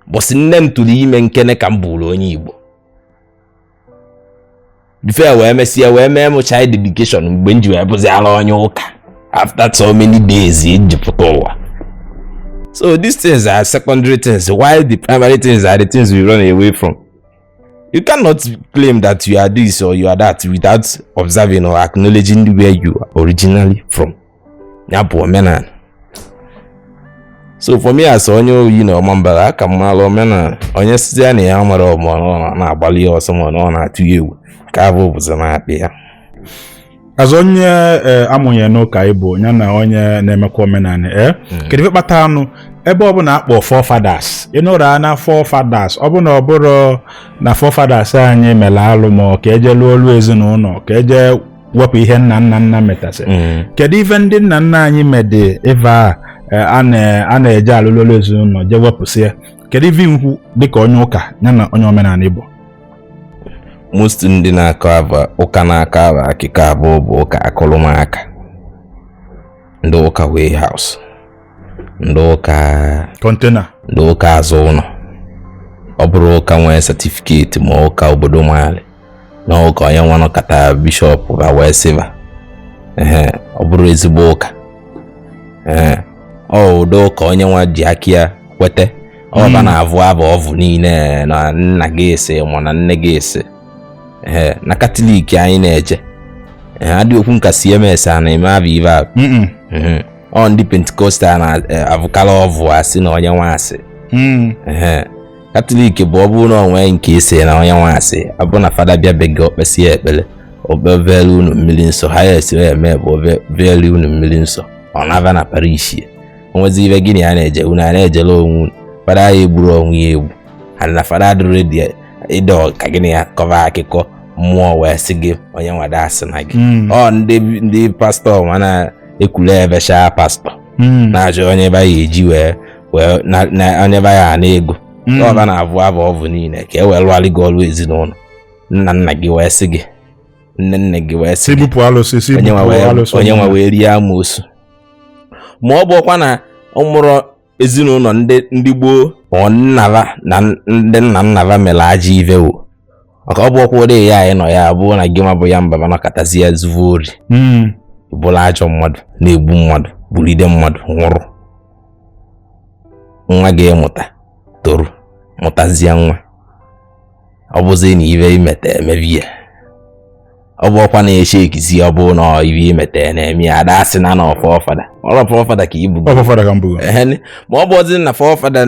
bọsị nne m tụrụ ime nkene ka m bụrụ onye Igbo before wee mesịa wee mee m child dedication mgbe m ji wee bụzi ala onye ụka after so many days m ji pụta ụwa so these things are secondary things while the primary things are the things we run away from you cannot claim that you are this or you are that without observing or acknowledging where you are originally from ya bụ omenala so for me as onye oyi na ọma mbara aka m mara omenala onye sizi ya na ya mara ọma ọ na-agbalị ya ọsọ ma ọ na-atụ ya egwu ka abụ bụzi na-akpị ya as onye eh, amụnye n'ụka ịbụ ya na onye na-emekwa omenala ee eh? hmm. kedu ife kpata a nụ ebe ọbụla a kpọ forefathers ịnụrụ na forefathers ọbụla ọ bụrụ na forefathers anyị mere alụ ma ka e je lụọ ọlụ ezinụlọ ka e je wepụ ihe nna nna nna metasị Mm. kedu ife ndị nna nna anyị mede ive a eh, a na- a na-eje alụ ọlụ ezinụlọ je wepụsịa kedu ife nkwu dịka onye ụka ya na onye omenala igbo most ndị na-akọ abụ ụka na-akọ abụ akụkọ abụọ bụ ụka akụlụ m aka ndị ụka warehouse ndị ụka container ndị ụka azụ ụlọ ọ bụrọ ụka nwee certificate ma ụka obodo malụ na ụka onye nwa nọkata bishop va wee sị va ee ọ bụrọ ezigbo ụka ee ọ ụdị ụka onye nwa ji aka ya kwete ọ va hmm. na-avụ abụ ọvụ niile na nna gị ese ma na nne gị ese ee na katọlik anyị na-eje ee adị okwu nka cms a na-eme abụ ive abụ ọ ndị pentikostal na-avụkarị ọvụ asị na onye nwa asị hmm. katọlik bụ ọ bụrụ na ọ nwee nke ise na onye nwa asị ọ bụrụ na fada bịa be gị o kpesịa ekpere obevere unu mmiri nsọ ha ya esiri eme bụ obevere unu mmiri nsọ ọ naba na parish ya o nwezi ive gịnị a na-eje unu a na-ejere onwe unu fada ya egburu onwe ya egbu ha na fada adịrọ ready ịdọ ka gịnị ya kọva akụkọ mmụọ wee sị gị onye nwada asị na gị hmm. ọ ndị ndị pastọ mana ekwule ebecha pastọ hmm. na-achọ onye ebe a ga-eji wee wee na- na- anyeba ya ana ego Mm. ọ va na-avụ abụ ọvụ niile ka e wee lụgharị gị ọrụ ezinụlọ nna nna gị wee sị gị nne nne gị wee sị si gị bupụ alụsị si onye nwa bupụ wee- alụsị onye nwa wee rie amoosu ma ọ bụkwa na ọ mụrụ ezinụlọ ndị ndị gboo ma ọ nna va na ndị nna nna va mere ajọ ive wo maka ọ bụ ọkwa ụdị ya anyị nọ ya abụọ na gị nwa bụ ya mba nọkatazi ya zuvu ori hmm. bụlụ ajọ mmadụ na-egbu mmadụ gburide mmadụ nwụrụ nwa ga-amụta toro mụtazie nwa ọ bụzi na ive i mete emeve ya ọ bụ ọkwa na-eche ekizi ọ bụ na ive i mete na-eme ya a da-asị na na forefather our forefather ka ibu ma ọ bụ ọdị na forefather